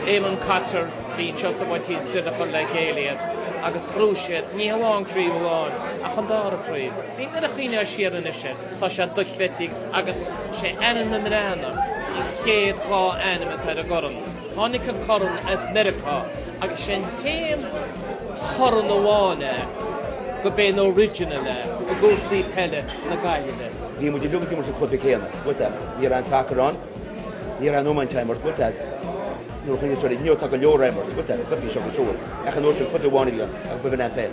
Éamonn Cotter, Bhí an Seosamh Ó Tín Stine chuir le chéile iad agus ghnóthaigh siad ní hamháin craobh amháin ach an dara craobh. Nuair a chuimhneoidh siar anois air. Tá sé dochreidte agus sé ainm na mBreathnach an chéad dhá ainm atá ar an gcorn. Tháinig an corn as Meiriceá agus sé an t-aon chorn amháin é go b'é an original é i gcúrsaí peile na Gaillimhe. Bhí muid uilig ag imirt an cluiche céanna but a ní raibh an sacar ann. Ní raibh an iomáint á imirt but a nuair a chuimhníonn tú air inniu tá go leor á imirt but a cluichí seo agus siúd. Ach an uair sin cluiche amháin a bhí ann agus ba shin an pheil.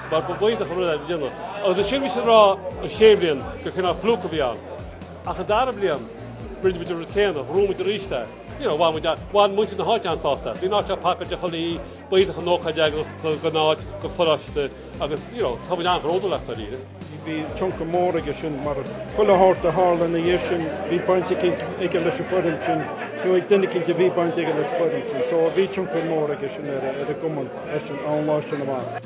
Mar ba mhaith dom an rud é do dhéanamh. Agus ansin bhí siad ag rá an chéad bhliain gur cineál fluke a bhí ann. Ach an dara bliain, rinne muid an rud céanna, ghnóthaigh muid arís é. You know, bhain muid a, bhain muintir na háite an-sásamh as. Bhí an áit seo pacáilte chuile oíche, b'iontach an ócáid é dháiríre don áit don pharóiste agus, you know, tá muid an-bhródúil as dáiríre. Bhí tionchar mór aige sin mar chuile shórt a tharla ina dhiaidh sin, bhí baint aige leis an foireann sin, nó ag duine eicínt a bhí baint aige leis an foireann sin. So bhí tionchar mór aige sin ar an gcumann as an lá sin amach.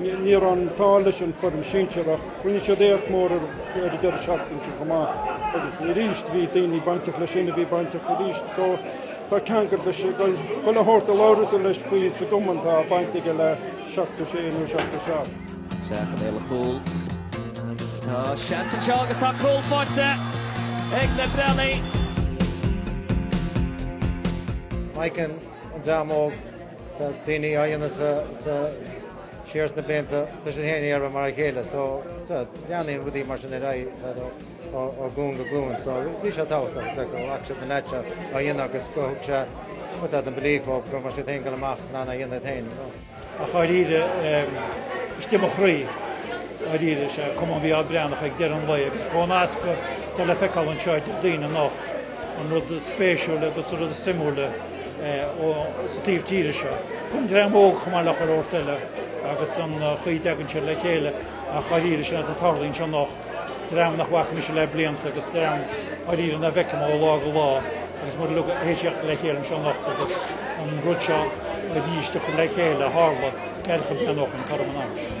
Ní raibh an t-ádh leis an foireann sinsir ach rinne siad éacht mór ar an deireadh seachtaine seo chomh maith agus arís bhí daoine bainteach leis sin a bhí bainteach arís. So tá ceangal leis. Chuile shórt a labhraíonn tú leis faoi sa gCumann tá baint aige le 76 nó 77. Isteach i mbéal an chúil agus tá seans anseo agus tá cúl faighte ag na Breathnaigh. Má fheiceann an dream óg. Tá daoine á dhéanamh sa siar sna blianta tá siad féin ag iarraidh mar a chéile so leanann rudaí mar sin ar aghaidh ó ghlúin go glúin so bhí sé tábhachtach go bhfaca siad na leaids seo á dhéanamh agus go thug sé an belief dóibh go raibh siad in ann a dhul amach is in ann é a dhéanamh iad féin. Ach dháiríre istigh i mo chroí dháiríre is é Cumann Mhíchíl Breathnach ag deireadh an lae agus comhnasc atá le feiceáil anseo idir daoine anocht. an rud is spéisiúla agus an rud is suimiúla sa taobh tíre seo. Bhain dream óg chomh maith le chuile shórt eile agus an chaoi a dtagann siad le chéile ach dháiríre sin atá tarlaithe anseo anocht, dream nach bhfaca mise le blianta agus dream dháiríre nach bhfeicim ó lá go lá agus muid uilig ag tíocht le chéile anseo anocht agus an rud seo arís a thug le chéile, tharla caoga bliain ó shin, toradh an ama sin.